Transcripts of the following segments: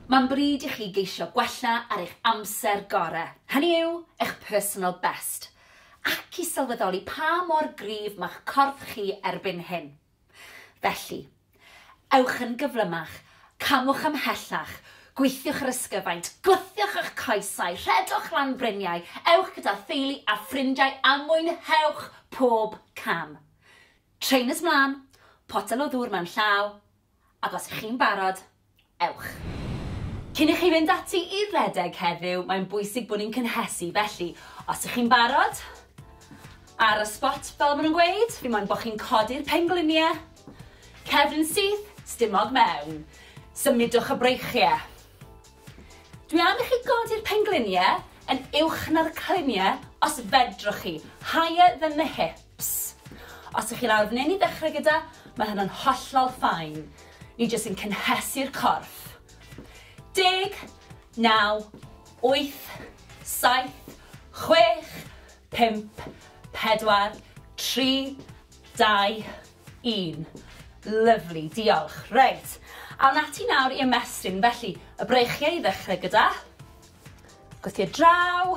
Mae'n bryd i chi geisio gwella ar eich amser gorau, hynny yw, eich personal best, ac i sylweddoli pa mor gryf mae'ch corff chi erbyn hyn. Felly, ewch yn gyflymach, camwch ymhellach, gweithiwch yr ysgyfaint, gwthiwch eich coesau, rhedwch lan fryniau, ewch gyda theulu a ffrindiau a mwynhewch pob cam. Trainers mlaen, potel o ddŵr mewn llaw, Ac os 'y chi'n barod, ewch! Cyn i chi fynd ati i redeg heddiw, mae'n bwysig bod ni'n cynhesu, felly, os 'y chi'n barod, ar y sbot, fel maen nhw'n gweud, fi moyn bod chi'n codi'r penglinie, cefn syth, stumog mewn, symudwch y breichie. Dwi am i chi godi'r penglinie yn uwch na'r clinie, os fedrwch chi, higher than the hip. Ps. Os ych chi'n awr neu'n i ddechrau gyda, mae hynna'n hollol fine. Ni jyst yn cynhesu'r corff. Deg, naw, wyth, saith, chwech, pump, pedwar, tri, dau, un. Lyfli, diolch. Reit, awn ati nawr i ymestyn. Felly, y breichiau i ddechrau gyda. Gwthio draw.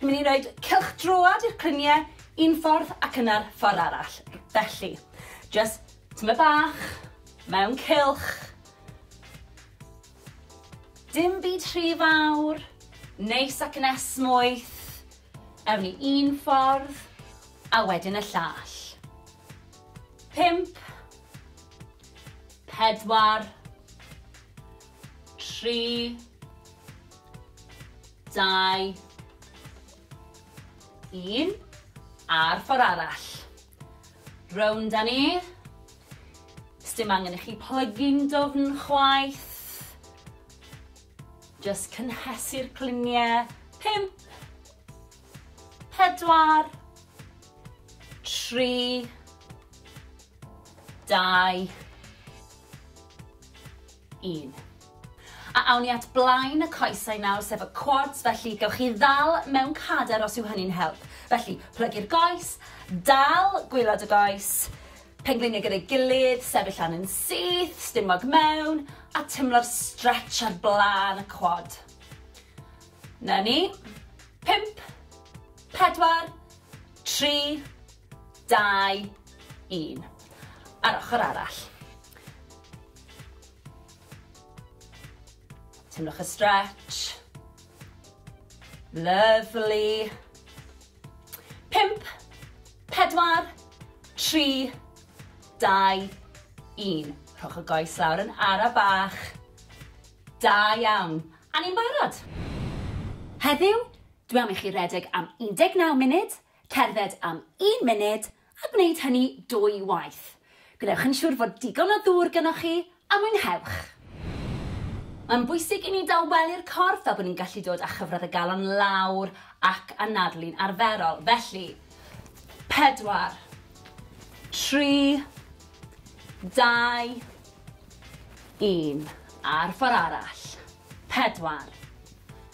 Ni'n mynd i roed cylch droad i'r crynie un ffordd ac yna'r ffordd arall. Felly, just tyma bach, mewn cylch. Dim byd rhy fawr, neis ac yn esmwyth. Ewn ni un ffordd, a wedyn y llall. Pimp. Pedwar. Tri. Dau. Un. A'r ffordd arall. Rownd â ni. Sdim angen i chi plygu'n dwfn chwaith. Just cynhesu'r cliniau. Pump. Pedwar. Tri. Dau. un. A awn ni at blaen y coesau nawr, sef y quads, felly gewch chi ddal mewn cader os yw hynny'n help. Felly, plygu'r goes, dal gwylod y goes, pengliniau gyda'i gilydd, sefyll lan yn syth, stumog mewn, a timlo'r stretch ar blaen y quad. Na ni. Pimp, pedwar, tri, dau, un. A'r ochr arall. Teimlwch y stretch. Lovely. Pimp, pedwar, tri, dau, un. Rhowch y goes lawr yn ara bach. Da iawn. A ni'n barod. Heddiw, dwi am i chi redeg am 19 munud, Cerdded am un munud a gwneud hynny dwy waith. Gwnewch yn siŵr fod digon o ddŵr gynoch chi a mwynhewch! Mae'n bwysig i ni dawelu'r corff fel bod ni'n gallu dod â chyfradd y galon lawr ac anadlu'n arferol. Felly, pedwar, tri, dau, un. A'r ffordd arall. Pedwar,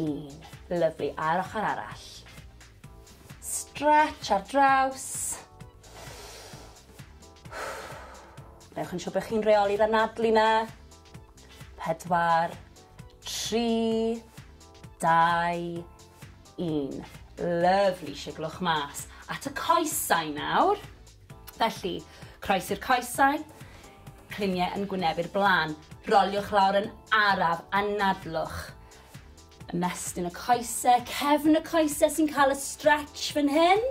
Un. Lyfli, a'r ochr arall. Stretch ar draws. Newch yn siŵr bod chi'n reoli'r anadlu na. Pedwar, tri, dau, un. Lyfli, siglwch mas. At y coesau nawr. Felly, croesi'r coesau, cliniau yn gwynebu'r blaen. Roliwch lawr yn araf a nadlwch. Ymestyn y coesau, cefn y coesau sy'n cael y stretch fan hyn.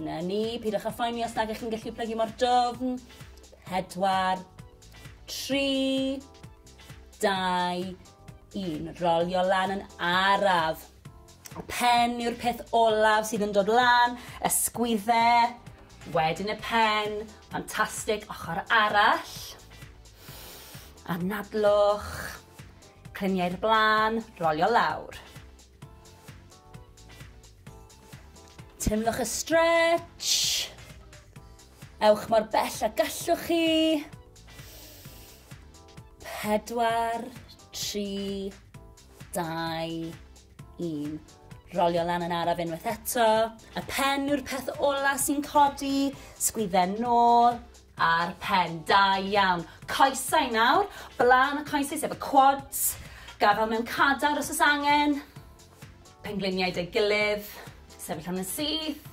Na ni, pidwch â phoeni os nag ych chi'n gallu plygu mor dofn. Pedwar, tri, dau, un. Rolio lan yn araf. Pen yw'r peth olaf sydd yn dod lan, ysgwydde, wedyn y pen, ffantastig, ochr arall, anadlwch, clymiau'r blaen, rolio lawr. Teimlwch y stretch, ewch mor bell a gallwch chi, pedwar, tri, Dau, un. Rolio lan yn araf unwaith eto. Y pen yw'r peth ola sy'n codi. Sgwydden nôl a'r pen. Da iawn. Coesau nawr. Blaen y coesau sef y quads. Gafel mewn cadar os oes angen. Pengliniau dy gilydd. Sefyll am yn syth.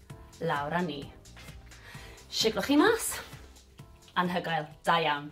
lawr a ni. Siglwch chi mas. Anhygoel. Da iawn.